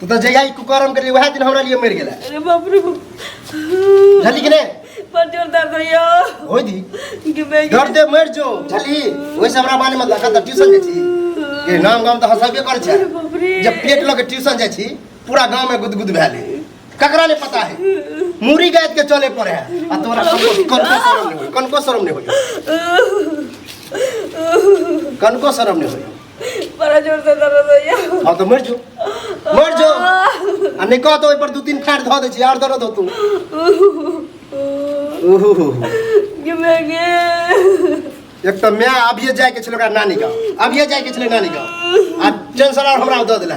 तू तो जहिया ई कुकरम करी वह दिन हमरा लिए मर गेला अरे बाप रे बाप। झली कि ने बड़ जोर दर्द होइयो होई दी कि मैं डर दे मर जो झली ओइ से हमरा बारे में लगा त ट्यूशन जाइ छी के नाम गाम त हसबे कर छै अरे बाप रे जब पेट लगे ट्यूशन जाइ छी पूरा गांव में गुदगुद भेले ककरा ले पता है मूरी गायत के चले पड़े है आ तोरा कनको कनको शरम नहीं होई कनको शरम नहीं होई कनको शरम नहीं होई बड़ा जोर से दर्द होइया हाँ तो मर जो मर जो आ नहीं कह तो पर दू तीन फाड़ धो दे छी आर दर्द होतू ओहो गिमे गे एक तो मैं अब ये जाए के छलोका नानी का अब ये जाए के छले नानी का आ टेंशन आर हमरा दे देला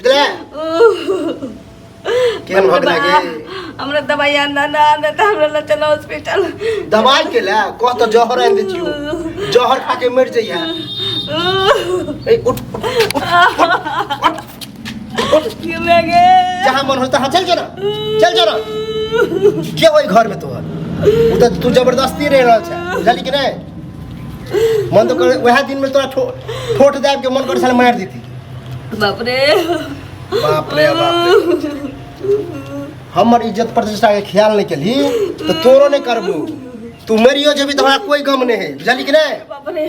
बुझले केहन भऽ गेलै गे हमरा दवाई आना ना आना तऽ हमरा लऽ चलो हॉस्पिटल दवाई के ले कह तऽ जहर आनि दै छियौ जहर खा के मरि जइहे ए उठ उठ, उठ, उठ, उठ। क्यों मैं गे जहाँ मन हो तहाँ चल जरा चल जरा के ओहि घर में तोहर उ तऽ तू जबरदस्ती रह रहल छै बुझली कि नहि मन तो कर वएह दिन में तोरा ठो- ठोठ दाबि के मन कर साले मारि देती बापरे बाप रे बाप रे। हमर इज्जत प्रतिष्ठा के ख्याल नहीं केली तो तोरो नहीं करबू तू मरियो जेबी तो हमरा कोई गम नहीं है बुझली कि नहीं बापरे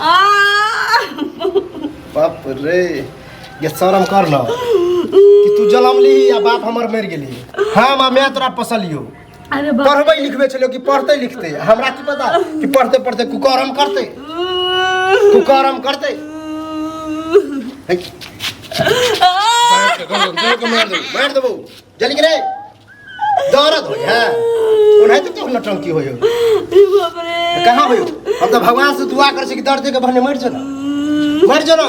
आ बाप रे ये शर्म कर ना कि तू जलम ली या बाप हमर मर गेली हम आ मैं तोरा पसलियो अरे बाप पढ़बै लिखबै छलै कि पढ़तै लिखतै हमरा की पता कि पढ़ते पढ़ते कुकरम करतै कुकरम करतै है कि? जोर के मार देबौ मार देबौ जल्दी करे दौड़त हो है ओनाहिते तो तोहर नटंकी होय हो अरे बाप रे कहाँ होय हो हम तो भगवान से दुआ करै छी कि दर्द के बहने मरि जो ना मरि जो ना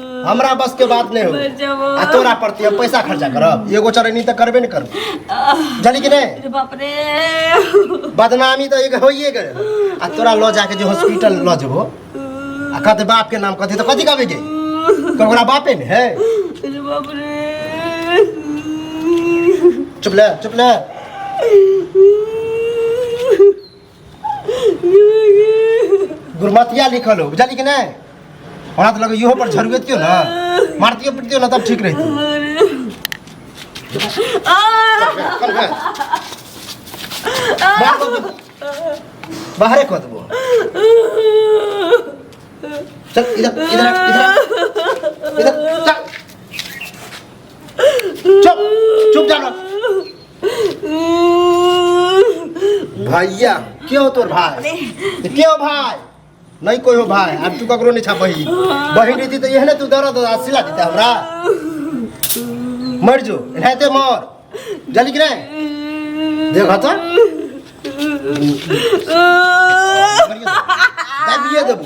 हमरा बस के बात नहीं मर जाओ। हो आ तोरा प्रति हम पैसा खर्चा करब एगो चरनी तो करबे नहीं करब जानी कि नहीं अरे बाप रे बदनामी तो एक होइए करे आ तोरा लऽ जाके जे हॉस्पिटल लऽ जेबो आ कहते बाप के नाम कहते तो कथी कहबे गे तो ओकरा बापे ने है अरे बाप रे चुप ले चुप ले गुरमतिया लिखल हो बुझलियै कि नहि हमरा तऽ लगे इहो पर झरुएतियो ने मारतियो पिटियो ने तब ठीक रहितो मार दो तू। बाहरे कऽ देबो चल इधर इधर आ, इधर आ। इधर चल चुप चुप जानो भैया के हो तोर भाय ते के हो भाय नहीं कोई हो भाय अब तू ककरो नहीं छा बहिन बहिन रही तो यह ना तू दर्द आ सिला देते हमरा मर जो रहते मर जल्दी कि नहीं देखा तो मरिए तो। दाबिए देबू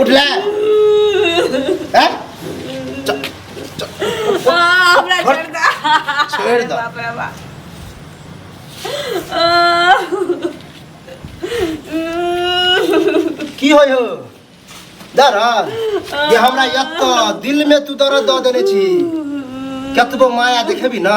उठले हैं च- च- आ, हमरा छोड़ दे। छोड़ दे। बाप रे बाप। आ, की होय हो दरद जे हमरा यत्त दिल में तू दरद दऽ देने छी कतबो माया देखेबी ना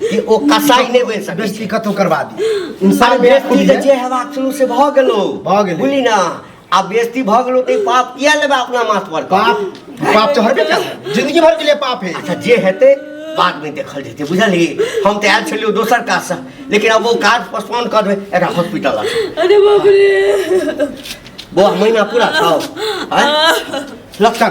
कि ओ कसाई नहि बनि सकै बेइज्जती छै कतहु करबा दी आ इंसान बेइज्जती जे बेइज्जती छै हेबाक शुरू से भऽ गेलो भऽ गेलै। बुझली ना आ बेइज्जती भऽ गेलो तऽ ई पाप किया लेबा अपना माथ पर पाप पाप तो हरबे कर जिंदगी भर के लिए पाप है अच्छा जे हेतै बाद में देखल जेतै बुझलियै हम तऽ आयल छलियै दोसर काजसँ लेकिन अब ओ काज पोस्टपोन कर देबै एकरा हॉस्पिटल लऽ जाउ। अरे बाप रे बौआ महीना पूरा छौ आँय? लक्षण